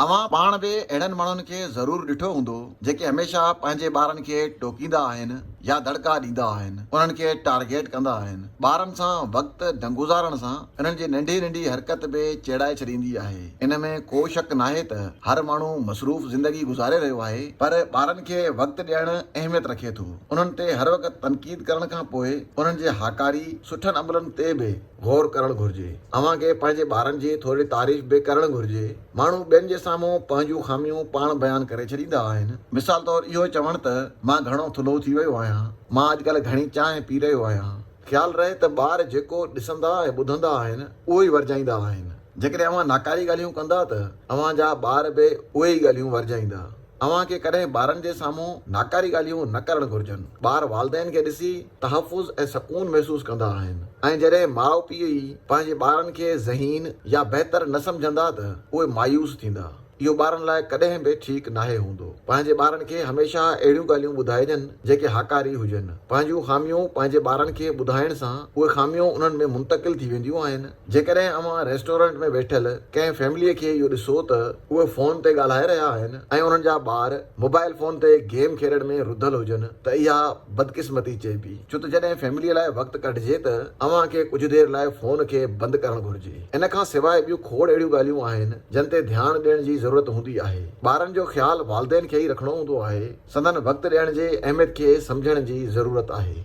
اوهان پاڻ به اهڙن ماڻهن کي ضرور ڏٺو هوندو جيڪي هميشه پنهنجي ٻارن کي ٽوڪيندا آهن يا دڙڪا ڏيندا آهن، انهن کي ٽارگيٽ ڪندا آهن. ٻارن سان وقت نه گذارڻ سان انهن جي ننڍي ننڍي حرڪت به چيڙائي ڇڏيندي آهي. ان ۾ ڪو شڪ ناهي ته هر ماڻهو مصروف زندگي گذاري رهيو آهي پر ٻارن کي وقت ڏيڻ اهميت رکي ٿو. انهن تي هر وقت تنقيد ڪرڻ کان پوء انهن جي هاڪاري سٺن عملن تي به غور ڪرڻ گهرجي. اوهان کي پنهنجي ٻارن جي ٿوري تعريف به ڪرڻ گهرجي. ماڻهو ٻين جي سامهون پنهنجون خاميون پاڻ بيان ڪري ڇڏيندا آهن. مثال طور اهو چوڻ ته مان گهڻو ٿلهو ٿي ويو آهيان، مان اڄڪلهه گهڻي چانهه پي رهيو آهيان. خيال رهي ته ٻار جيڪو ڏسندا ۽ ٻڌندا آهن اهو ئي ورجائيندا آهن. جيڪڏهن اوهان ناڪاري ڳالهيون ڪندا ته اوهان جا ٻار به اهي ئي ڳالهيون ورجائيندا. اوهان کي ڪڏهن ٻارن جي سامهون ناڪاري ڳالهيون نه ڪرڻ گهرجن. ٻار والدين کي ڏسي تحفظ ۽ سڪون محسوس ڪندا آهن ۽ جڏهن ماء پيء ئي پنهنجي ٻارن کي ذهين يا بهتر نه سمجهندا ته اهي مايوس ٿيندا. اهو ٻارن لاء ڪڏهن به ٺيڪ ناهي هوندو. پنهنجي ٻارن کي هميشه اهڙيون ڳالهيون ٻڌائجن جيڪي هاڪاري هجن. پنهنجون خاميون پنهنجي ٻارن کي ٻڌائڻ سان اهي خاميون انهن ۾ منتقل ٿي وينديون آهن. جيڪڏهن اوهان ريسٽورنٽ ۾ ويٺل ڪنهن فيمليء کي اهو ڏسو ته اهي فون تي ڳالهائي رهيا آهن ۽ انهن جا ٻار موبائل فون تي گيم کيڏڻ ۾ رڌل هجن ته اها بدقسمتي چئبي ڇو ته جڏهن فيمليء لاء وقت ڪڍجي ته اوهان کي ڪجهه دير لاء فون کي بند ڪرڻ گهرجي. ان کان سواء ٻيون کوڙ اهڙيون ڳالهيون آهن جن تي ڌيان ڏيڻ جي ضرورت هوندي آهي. ٻارن جو خيال والدين کي ئي رکڻو هوندو آهي. سندن وقت ڏيڻ جي اهميت کي سمجهڻ جي ضرورت آهي.